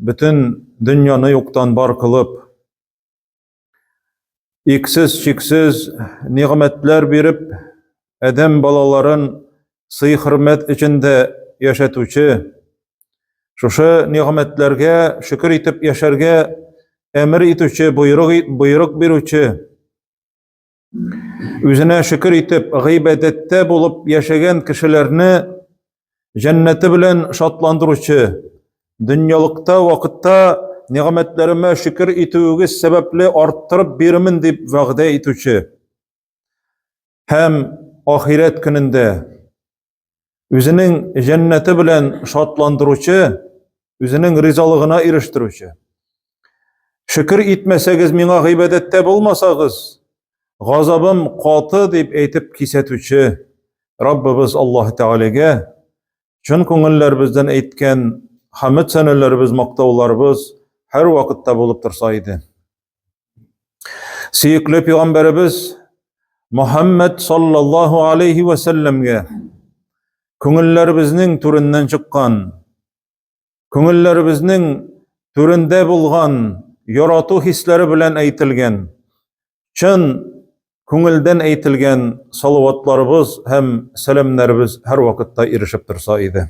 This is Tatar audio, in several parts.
бөтен дөньяны юктан бар кылып, иксез чиксез нигъмәтләр биреп, адәм балаларын сый-хөрмәт эчендә яшәтүче, шушы нигъмәтләргә шөкер итеп яшәргә әмер итүче, боерык, боерык бирүче, Үзенә шөкер итеп, гыйбадәттә булып яшәгән кешеләрне җәннәте белән шатландыручы, дөньялыкта вакытта нигъмәтләремә шөкер итүегез сәбәпле арттырып бирмен дип вәгъдә итүче һәм ахирәт көнендә Үзенең җәннәте белән шатландыручы, үзенең ризалыгына ирештерүче. Шөкер итмәсәгез, миңа гыйбадәттә булмасагыз, газабым каты дип әйтеп кисәтүче Раббыбыз Аллаһ Тәгаләгә чын күңелләребездән әйткән хамд сәнәләребез, мактауларыбыз һәр вакытта булып торса иде. Сөекле пигамбәребез Мөхәммәд саллаллаһу алейхи ва сәлләмгә күңелләребезнең түреннән чыккан, күңелләребезнең түрендә булган ярату хисләре белән әйтелгән, чын күңелдән әйтелгән салаватларыбыз һәм сәламнәребез һәрвакытта ирешеп торса иде.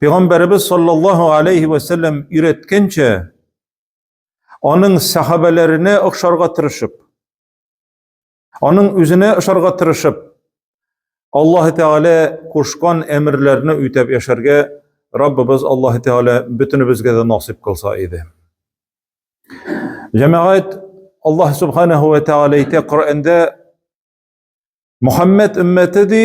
Пәйгамбәребез саллаллаһу алейхи ва сәлләм өйрәткәнчә, аның сахабәләренә охшарга тырышып, аның үзенә охшарга тырышып, Аллаһ Тәгалә кушкан әмерләрне үтәп яшәргә Раббыбыз Аллаһ Тәгалә бөтенебезгә дә насыйп кылса иде. Җәмәгать Аллаһ Субханаһу ва Тәгалә әйтә Коръәндә Мухаммад өммәте ди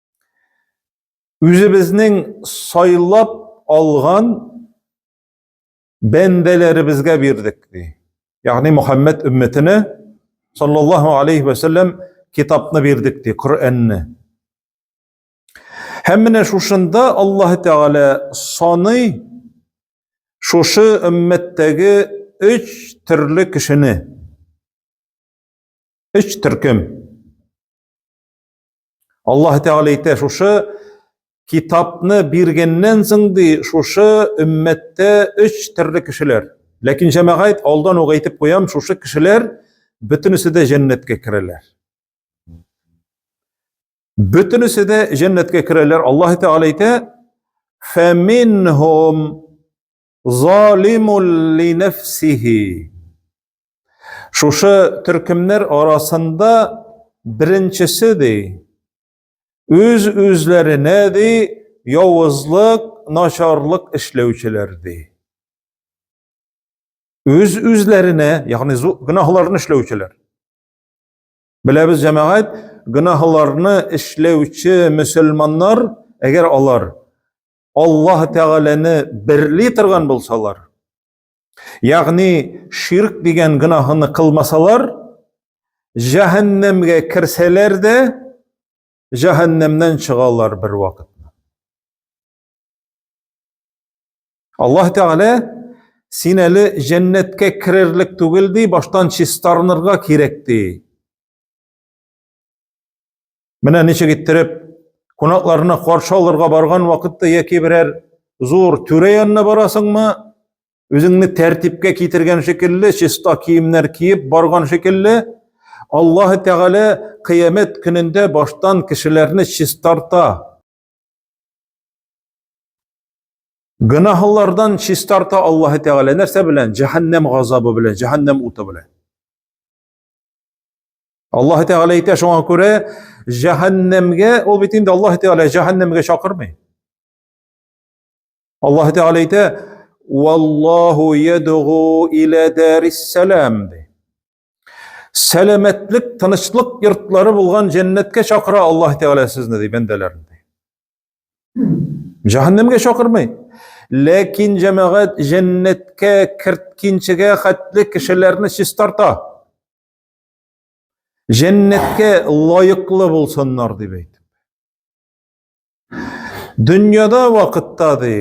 Үзебезнең сайлап алган бәндәләребезгә бирдек ди. Ягъни Мөхәммәд өммәтенә саллаллаһу алейхи ва саллям китапны бирдек ди, Коръәнне. Һәм менә шушында Аллаһ Тәгалә саный шушы өммәттәге өч төрле кешене. Өч төркем. Аллаһ Тәгалә әйтә, шушы китапны биргәннән соң ди, шушы өммәттә өч төрле кешеләр. Ләкин җәмәгать алдан ук әйтеп куям, шушы кешеләр бөтенесе дә җәннәткә керәләр. Бөтенесе дә җәннәткә керәләр. Аллаһ Тәгалә әйтә, "Фәминһум залимул линәфсихи". Шушы төркемнәр арасында беренчесе ди, үз үзләренә ди явызлык, начарлык эшләүчеләр ди. Үз үзләренә, ягъни гөнаһларны эшләүчеләр. Беләбез җәмәгать, гөнаһларны эшләүче мөселманнар, әгәр алар Аллаһ Тәгаләне берли торган булсалар, Ягъни ширк дигән гөнаһны кылмасалар, җәһәннәмгә керсәләр дә, җәһәннәмнән чыгалар бер вакытны. Аллаһ Тәгалә син әле җәннәткә керерлек түгел ди, баштан чистарынырга кирәк ди. Менә ничек иттереп кунакларны каршы алырга барган вакытта яки берәр зур түрә янына барасыңмы, үзеңне тәртипкә китергән шикелле, чиста киемнәр киеп барган шикелле, Аллаһы Тәгалә кыямәт көнендә баштан кешеләрне чистарта. Гөнаһлардан чистарта Аллаһы Тәгалә нәрсә белән? Җәһәннәм газабы белән, җәһәннәм уты белән. Аллаһ Тәгалә әйтә шуңа күрә җәһәннәмгә ул бит инде Аллаһ Тәгалә җәһәннәмгә чакырмый. Аллаһ Тәгалә әйтә: "Валлаһу ядгу иля дарис салам" ди. Сәламәтлек, тынычлык йортлары булган җәннәткә чакыра Аллаһ Тәгалә сезне ди бәндәләрен. Җәһәннәмгә чакырмый. Ләкин җәмәгать җәннәткә керткенчегә хәтле кешеләрне чистарта. Җәннәткә лаеклы булсыннар дип әйтеп. Дөньяда вакытта ди,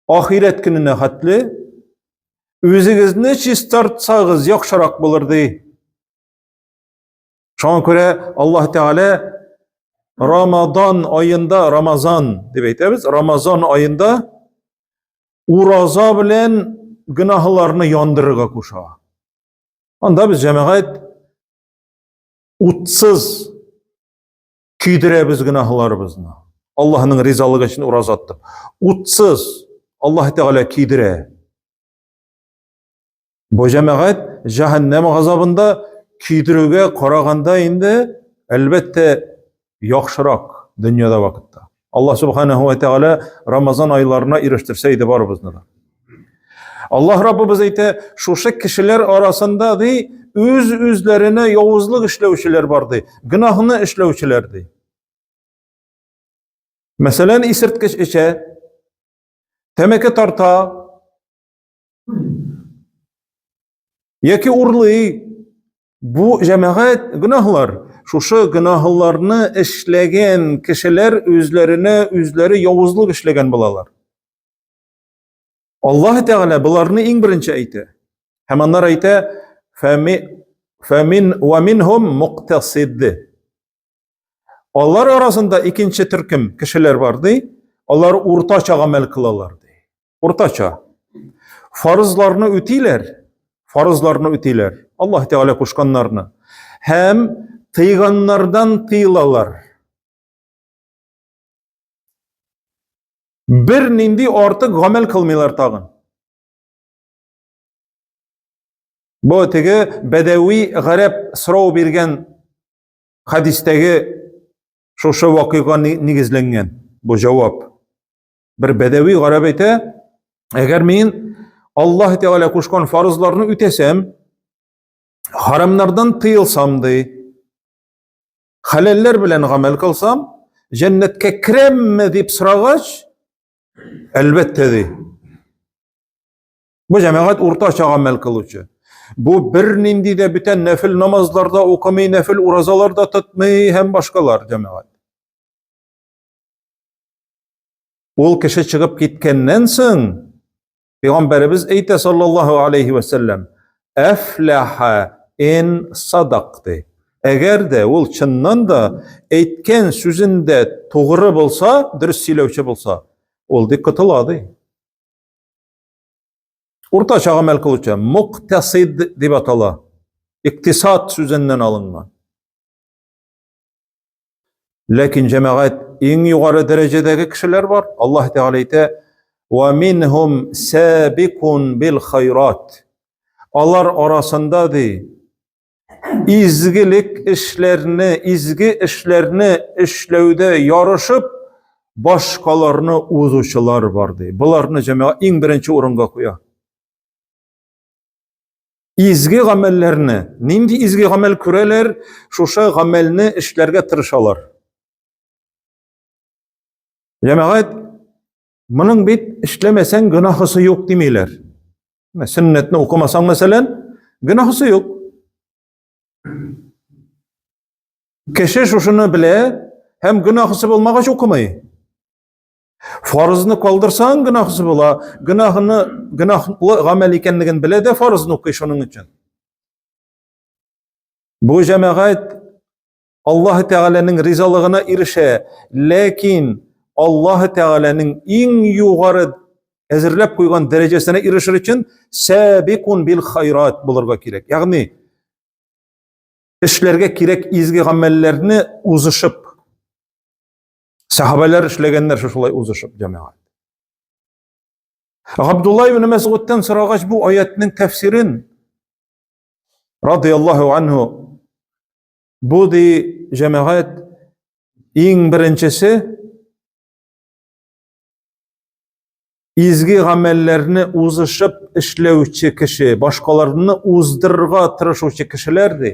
ахирәт көненә хәтле үзегезне чистартсагыз яхшырак булыр ди. Шуңа күрә Аллаһ Тәгалә Рамадан айында, Рамазан дип әйтәбез, Рамазан айында ураза белән гөнаһларны яндырырга куша. Анда без җәмәгать утсыз көйдерәбез гөнаһларыбызны. Аллаһның ризалыгы өчен ураза тотып, утсыз Аллаһ Тәгалә көйдерә. Бу җәмәгать җәһәннәм газабында көйдерүгә караганда инде әлбәттә яхшырак дөньяда вакытта. Аллаһ субханаһу ва тааля Рамазан айларына ирештерсә иде барыбызны да. Аллаһ Раббыбыз әйтә, шушы кешеләр арасында ди, үз-үзләренә явызлык эшләүчеләр бар ди, гөнаһны эшләүчеләр ди. Мәсәлән, исерткеч эчә, тәмәке тарта, Яки урлый. Бу җәмәгать гөнаһлар. Шушы гөнаһларны эшләгән кешеләр үзләренә үзләре явызлык эшләгән булалар. Аллаһ Тәгалә боларны иң беренче әйтә. Һәм аннар әйтә: "Фәми фәмин ва минһум муктасид". Алар арасында икенче төркем кешеләр бар ди. Алар уртача гамәл кылалар ди. Уртача. Фарызларны үтиләр, фарызларны үтиләр. Аллаһ Тәгалә кушканнарны һәм тыйганнардан тыйылалар. Бер нинди артык гамәл кылмыйлар тагын. Бу теге бәдәви гарәп сорау биргән хадистәге шушы вакыйга нигезләнгән бу җавап. Бер бәдәви гарәп әйтә, әгәр мин Аллаһ Тәгалә кушкан фарызларны үтәсәм, харамнардан тыелсам ди, хәләлләр белән гамәл кылсам, җәннәткә керәмме дип сорагач, әлбәттә ди. Бу җәмәгать уртача гамәл кылучы. Бу бернинди дә бүтән нәфил намазларда укымый, нәфил уразаларда тотмый һәм башкалар җәмәгать. Ул кеше чыгып киткәннән соң пәйгамбәребез әйтә саллаллаһу алейхи ва саллям, "Афлаха ин садакты". Әгәр дә ул чыннан да әйткән сүзендә тугры булса, дөрес сөйләүче булса, ул ди котыла ди. Уртача гамәл кылучы, муктасид дип атала. Иктисад сүзеннән алынган. Ләкин җәмәгать иң югары дәрәҗәдәге кешеләр бар. Аллаһ Тәгалә әйтә: "Ва минһум сабикун бил хайрат". Алар арасында ди изгелек эшләрне, изге эшләрне эшләүдә ярышып башкаларны узучылар бар ди. Боларны җәмәгать иң беренче урынга куя. Изге гамәлләрне, нинди изге гамәл күрәләр, шушы гамәлне эшләргә тырышалар. Җәмәгать, моның бит эшләмәсәң гөнаһысы юк димиләр. Менә сөннәтне укымасаң, мәсәлән, гөнаһысы юк. Кеше шушыны белә һәм гөнаһысы булмагач укымый. Фарызны калдырсаң гөнаһсыз була, гөнаһны гөнаһлы гамәл икәнлеген белә дә фарызны укый шуның өчен. Бу җәмәгать Аллаһ Тәгаләнең ризалыгына ирешә, ләкин Аллаһ Тәгаләнең иң югары әзерләп куйган дәрәҗәсенә ирешер өчен сәбикун бил хайрат булырга кирәк. Ягъни эшләргә кирәк изге гамәлләрне узышып Сахабәләр эшләгәннәр шушылай узышып җәмәгать. Габдулла ибн Мәсгудтан сорагач бу аятның тәфсирен радияллаһу анһу бу ди җәмәгать иң беренчесе изге гамәлләрне узышып эшләүче кеше, башкаларны уздырырга тырышучы кешеләр ди.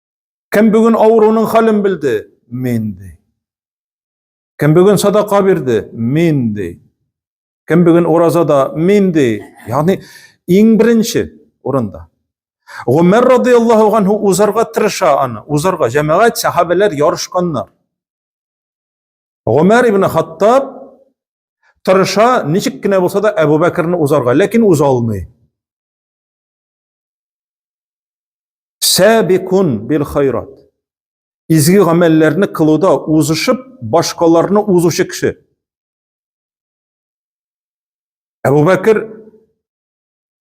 Кем бүген авыруның хәлен белде? Мин ди. Кем бүген садака бирде? Мин ди. Кем бүген уразада? Мин ди. Ягъни иң беренче урында. Гомәр радияллаһу анһу узарга тырыша аны, узарга җәмәгать сахабәләр ярышканнар. Гомәр ибн Хаттаб тырыша, ничек кенә булса да Әбу Бәкерне узарга, ләкин уза алмый. Сәбикун бил хайрат. Изге гамәлләрне кылуда узышып, башкаларны узучы кеше. Әбу Бәкер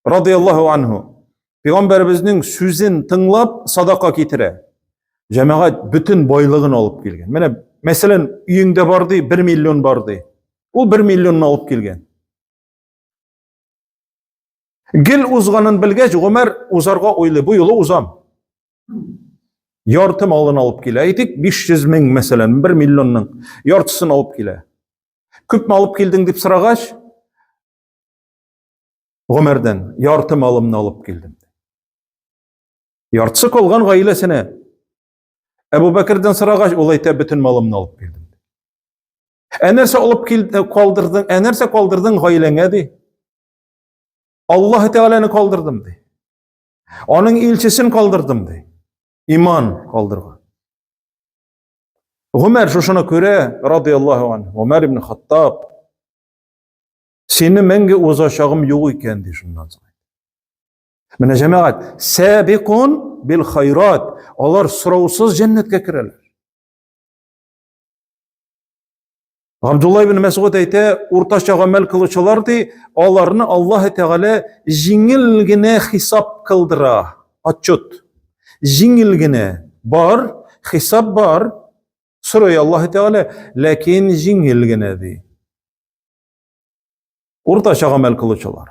радияллаху анху пәйгамбәребезнең сүзен тыңлап садака китерә. Җәмәгать бөтен байлыгын алып килгән. Менә мәсәлән, өеңдә бар ди, 1 миллион бар ди. Ул 1 миллионны алып килгән. Гел узганын белгәч, Гомәр узарга уйлый, бу юлы узам. Ярты малын алып килә, әйтик, 500 мең, мәсәлән, 1 миллионның яртысын алып килә. Күп алып килдең дип сорагач, Гомәрдән ярты малымны алып килдем. Яртысы калган гаиләсенә Әбу Бәкердән сорагач, ул әйтә, бөтен малымны алып килдем. Ә нәрсә алып килде, калдырдың? Ә нәрсә калдырдың гаиләңә ди? Аллаһ Тәгаләне калдырдым ди. Аның илчесен калдырдым ди. Иман калдырган. Гомәр шушыны күрә, радияллаһу ан, Гомәр ибн Хаттаб, сине мәңге узачагым юк икән, ди шуннан соң. Менә җәмәгать, сәбикун бил хайрат. Алар сораусыз җәннәткә керәләр. Абдулла ибн Мәсгуд әйтә, уртача гамәл кылучылар ди, аларны Аллаһ Тәгалә җиңел генә хисап кылдыра. Отчет. Җиңел генә бар, хисап бар. Сорый Аллаһ Тәгалә, ләкин җиңел генә ди. Уртача гамәл кылучылар.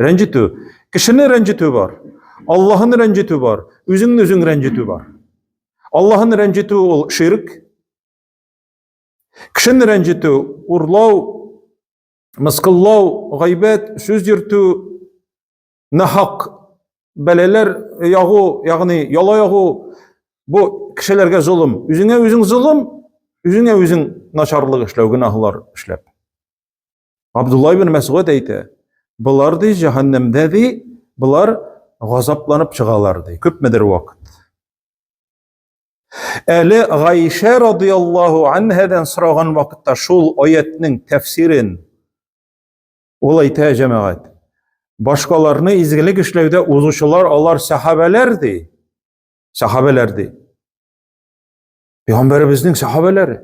Рәнҗетү. Кешене рәнҗетү бар. Аллаһын рәнҗетү бар. Үзеңне үзең рәнҗетү бар. Аллаһын рәнҗетү ул ширк. Кешене рәнҗетү, урлау, мыскыллау, гайбәт, сүз йөртү, нахак бәләләр ягу, ягъни яла ягу, бу кешеләргә золым. Үзеңә үзең золым, үзеңә үзең начарлык эшләү, гөнаһлар эшләп. Абдулла ибн Мәсгуд әйтә, болар ди җәһәннәмдә ди, болар газапланып чыгалар ди, күпмедер вакыт. Әле Гайшә радиаллаһу анһадан сораган вакытта шул аятның тәфсирен ул әйтә җәмәгать. Башкаларны изгелек эшләүдә узучылар алар сәхабәләр ди. Сәхабәләр ди. Пәйгамбәребезнең сәхабәләре.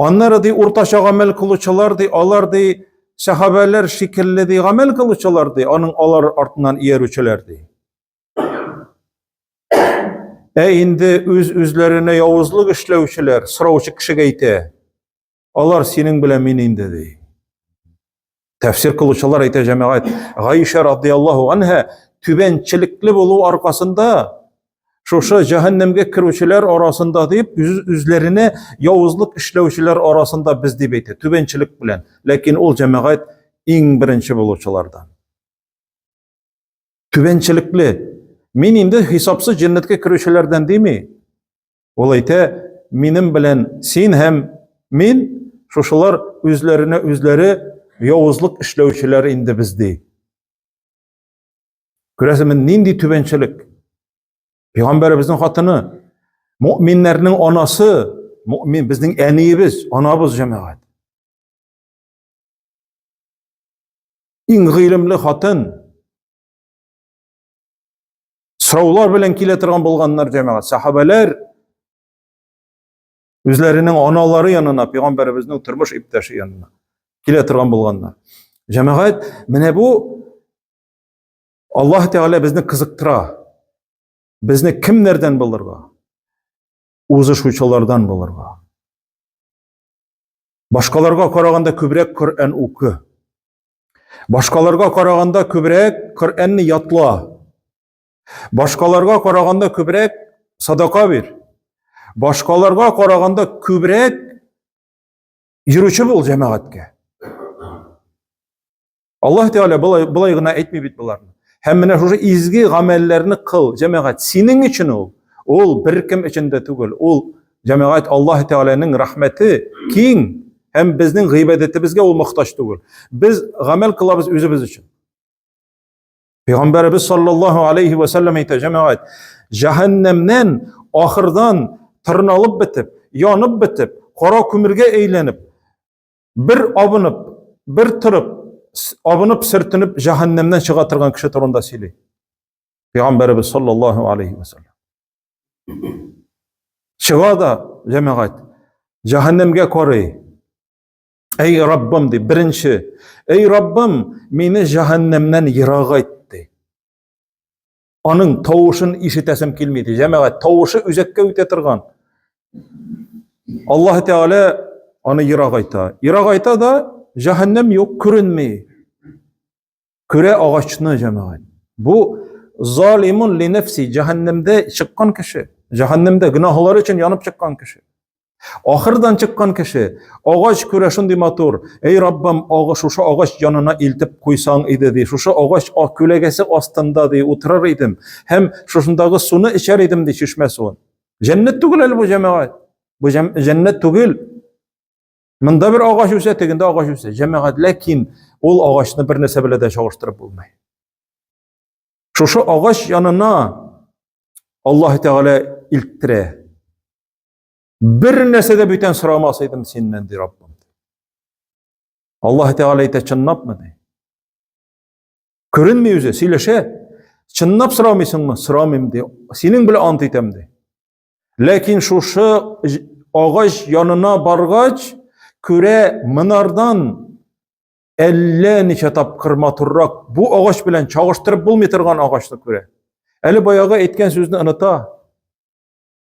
Аннары ди уртача гамәл кылучылар ди, алар ди сәхабәләр шикелле ди гамәл кылучылар ди, аның алар артыннан иярүчеләр ди. Ә инде үз-үзләренә явызлык эшләүчеләр, сораучы кешегә әйтә, алар синең белән мин инде ди. Тәфсир кылучылар әйтә җәмәгать, Гаиша радиаллаһу анһа түбәнчелекле булу аркасында шушы җәһәннәмгә керүчеләр арасында дип үз үзләренә явызлык эшләүчеләр арасында без дип әйтә, түбәнчелек белән. Ләкин ул җәмәгать иң беренче булучылардан. Түбәнчелекле. Мин инде хисапсыз җәннәткә керүчеләрдән дими. Ул әйтә, минем белән син һәм мин шушылар үзләренә үзләре явызлык эшләүчеләр инде без ди. Күрәсеме, нинди түбәнчелек? Пәйгамбәребезнең хатыны, мөэминнәрнең анасы, мөэмин безнең әниебез, анабыз җәмәгать. Иң гыйлемле хатын, Сораулар белән килә торган булганнар җәмәгать. Сахабәләр үзләренең аналары янына, пәйгамбәребезнең тормыш иптәше янына килә торган булганнар. Җәмәгать, менә бу Аллаһ Тәгалә безне кызыктыра. Безне кемнәрдән булырга? Узышучылардан булырга. Башкаларга караганда күбрәк Коръән укы. Башкаларга караганда күбрәк Коръәнне ятла. Башкаларга караганда күбрәк садака бир. Башкаларга караганда күбрәк йөрүче бул җәмәгатькә. Аллаһ Тәгалә былай, былай гына әйтми бит боларны. Һәм менә шушы изге гамәлләрне кыл, җәмәгать. Синең өчен ул. Ул беркем өчен дә түгел. Ул Җәмәгать Аллаһ Тәгаләнең рәхмәте киң һәм безнең гыйбадәтебезгә ул мохтаҗ түгел. Без гамәл кылабыз үзебез өчен. Пәйгамбәребез саллаллаһу алейхи ва саллям әйтә, җәмәгать, җәһәннәмнән ахырдан тырналып бетеп, янып бетеп, кара күмергә әйләнеп, бер абынып, бер торып, абынып, сөртенеп җәһәннәмнән чыга торган кеше турында сөйли. Пәйгамбәребез саллаллаһу алейхи ва саллям. Чыга да, җәмәгать, җәһәннәмгә карый. Әй Раббым ди, беренче, әй Раббым, мине җәһәннәмнән ерагайт ди. Аның тавышын ишетәсем килми ди, җәмәгать, тавышы үзәккә үтә торган. Аллаһ Тәгалә аны ерагайта. Ерагайта да җәһәннәм юк, күренми. Күрә агачны җәмәгать. Бу залимун ли нәфси, җәһәннәмдә чыккан кеше, җәһәннәмдә гөнаһлары өчен янып чыккан кеше. Ахырдан чыккан кеше, агач күрә шундый матур, эй Раббым, агы шушы агач янына илтеп куйсаң иде ди, шушы агач күләгәсе астында ди утырыр идем, һәм шушындагы суны эчәр идем ди чишмә суын. Җәннәт түгел әле бу җәмәгать. Бу җәннәт түгел. Монда бер агач үсә, тегендә агач үсә. Җәмәгать, ләкин ул агачны бер нәрсә белән дә чагыштырып булмый. Шушы агач янына Аллаһ Тәгалә илттерә. Бер нәрсә дә бүтән сорамас идем синнән, ди Раббым. Аллаһ Тәгалә әйтә, чынлапмы ди? Күренми үзе, сөйләшә. Чынлап сорамыйсыңмы? Сорамыйм ди. Синең белән ант итәм ди. Ләкин шушы агач янына баргач, күрә монардан әллә ничә тапкыр матуррак бу агач белән чагыштырып булмый торган агачны күрә. Әле баягы әйткән сүзне оныта.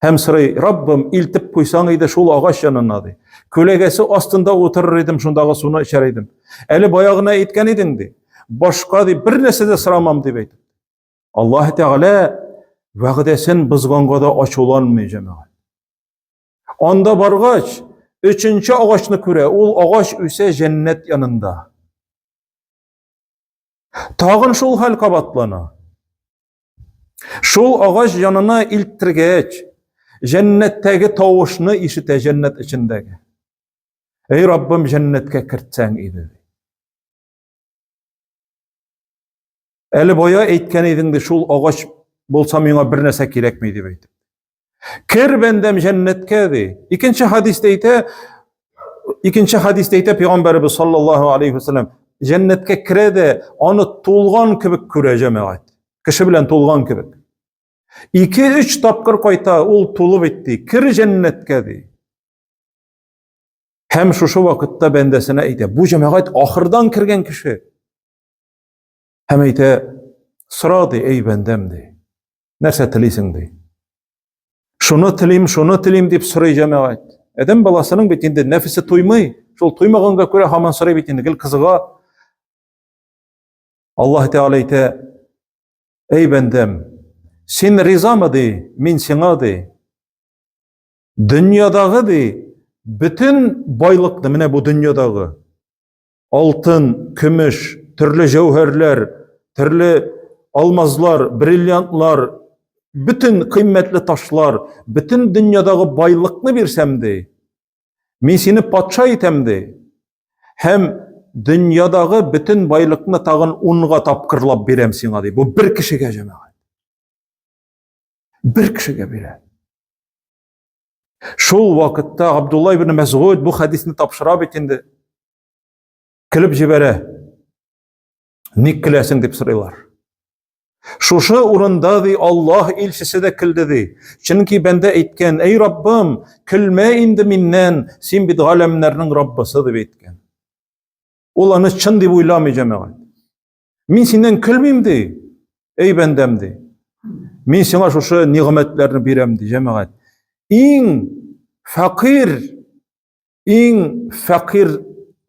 Һәм сорый, Раббым, илтеп куйсаң иде шул агач янына ди. Күләгәсе астында утырыр идем, шундагы суны эчәр идем. Әле баягына әйткән идең ди. Башка ди, бер нәрсә дә сорамам дип әйтеп. Аллаһ Тәгалә вәгъдәсен бозганга да ачуланмый җәмәгать. Анда баргач, өченче агачны күрә, ул агач үсә җәннәт янында. Тагын шул хәл кабатлана. Шул агач янына илттергәч, җәннәттәге тавышны ишетә җәннәт эчендәге. Эй Раббым, җәннәткә кертсәң иде. Әле бая әйткән идең ди, шул агач булса миңа бер нәрсә кирәкми дип әйтеп. Кер бәндәм җәннәткә ди. Икенче хадистә әйтә, икенче хадистә әйтә пәйгамбәрбез саллаллаһу алейхи вәсәлләм, җәннәткә керә дә аны тулган кебек күрә җәмәгать. Кеше белән тулган кебек. Ике-өч тапкыр кайта, ул тулып әйтте, кер җәннәткә ди. Һәм шушы вакытта бәндәсенә әйтә, бу җәмәгать ахырдан кергән кеше. Һәм әйтә, сора ди, әй бәндәм ди. Нәрсә телисең ди? Шуны телим, шуны телим дип сорый җәмәгать. Адәм баласының бит инде нәфесе туймый. Шул туймаганга күрә һаман сорый бит инде, гел кызыга. Аллаһ Тәгалә әйтә, әй бәндәм, син ризамы ди, мин сиңа ди. Дөньядагы ди бөтен байлыкны менә бу дөньядагы алтын, көмеш, төрле җәүһәрләр, төрле алмазлар, бриллиантлар, бөтен кыйммәтле ташлар, бөтен дөньядагы байлыкны бирсәм ди. Мин сине патша итәм ди. Һәм дөньядагы бөтен байлыкны тагын унга тапкырлап бирәм сиңа ди. Бу бер кешегә җәмәгать. Бер кешегә бирә. Шул вакытта Абдулла ибн Мәсгуд бу хәдисне тапшыра бит инде. Килеп җибәрә. Ник киләсең дип сорыйлар. Шушы урында ди Аллаһ илчесе дә килде ди. Чөнки бәндә әйткән, "Эй Раббым, килмә инде миннән, син бит галәмнәрнең Раббысы" дип әйткән. Ул аны чын дип уйламый җәмәгать. Мин синнән көлмим ди. Эй бәндәм ди. Мин сиңа шушы нигъмәтләрне бирәм ди, җәмәгать. Иң фәкыйр, иң фәкыйр,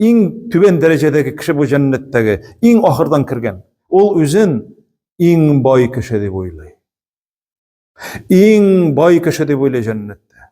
иң түбән дәрәҗәдәге кеше бу җәннәттәге, иң ахырдан кергән. Ул үзен иң бай кеше дип уйлый. Иң бай кеше дип уйлый җәннәттә.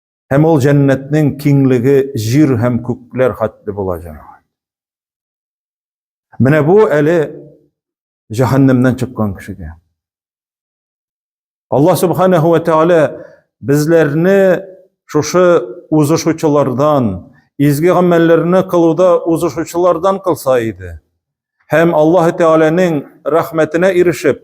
Һәм ул җәннәтнең киңлеге җир һәм күкләр хәтле була җәмәгать. Менә бу әле җәһәннәмнән чыккан кешегә. Алла субханаһу ва тааля безләрне шушы узышучылардан, изге гамәлләрне кылуда узышучылардан кылса иде. Һәм Аллаһ Тәгаләнең рәхмәтенә ирешеп,